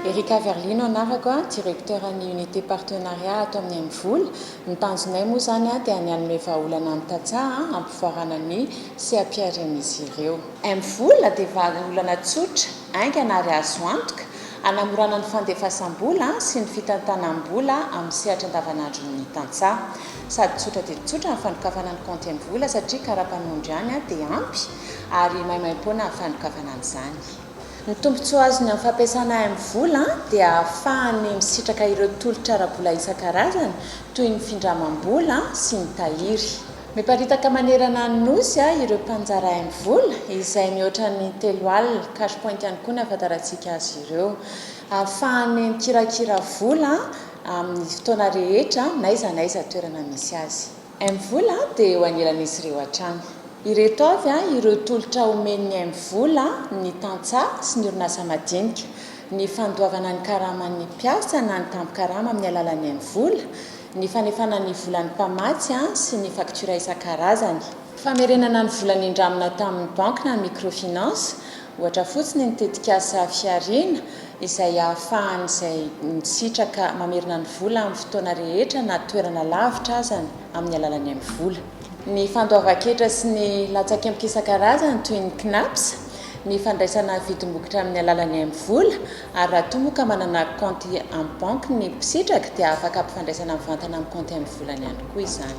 Erica Verlino anarako a, directeur ny unité partenariat ato amin'ny Amivola. Ny tanjonay moa izany a dia ny hanome vahaolana ny tantsaha a, hampivoarana ny seha-piharian'izy ireo. Amivola dia vahaolana tsotra, haingana ary azo antoka, hanamorana ny fandefasam-bola sy ny fitantanam-bola amin'ny sehatra andavanandron'ny tantsaha. Sady tsotra dia tsotra ny fandokafana ny kaonty amin'ny vola satria kara-panondro ihany dia ampy ary maimaim-poana ny fandokafana an'izany. Ny tombontsoa azony amin'ny fampiasana amin'ny vola dia ahafahany misitraka ireo tolotra ara-bola isan-karazany toy ny findramam-bola sy ny tahiry. Miparitaka manerana ny Nosy ireo mpanjara amin'ny vola izay mihoatra ny telo alina, cash point ihany koa ny ahafantarantsika azy ireo. Ahafahany mikirakira vola. amin'ny fotoana rehetra n'aiza n'aiza toerana misy azy. Mvola dia eo anelan'izy ireo hatrany. Ireto avy ireo tolotra omen'ny Mvola ny tantsaha sy ny orinasa madinika, ny fandoavana ny karaman'ny mpiasa na ny tambin-karama amin'ny alalan'ny Mvola, ny fanefana ny volan'ny mpamatsy sy ny faktiora isan-karazany. Famerenana ny vola nindramina tamin'ny banky na microfinance, ohatra fotsiny ny tetikasa Fihariana, izay ahafahan'izay misitraka mamerina ny vola amin'ny fotoana rehetra na toerana lavitra azany amin'ny alalan'ny Mvola. Ny fandoavan-ketra sy ny latsakemboka isan-karazany toy ny Cnaps, ny fandraisana vidim-bokotra amin'ny alalan'ny Mvola, Ary raha toa moa ka manana kaonty amin'ny banky ny mpisitraka dia afaka ampifandraisana mivantana amin'ny kaonty amin'ny volany ihany koa izany.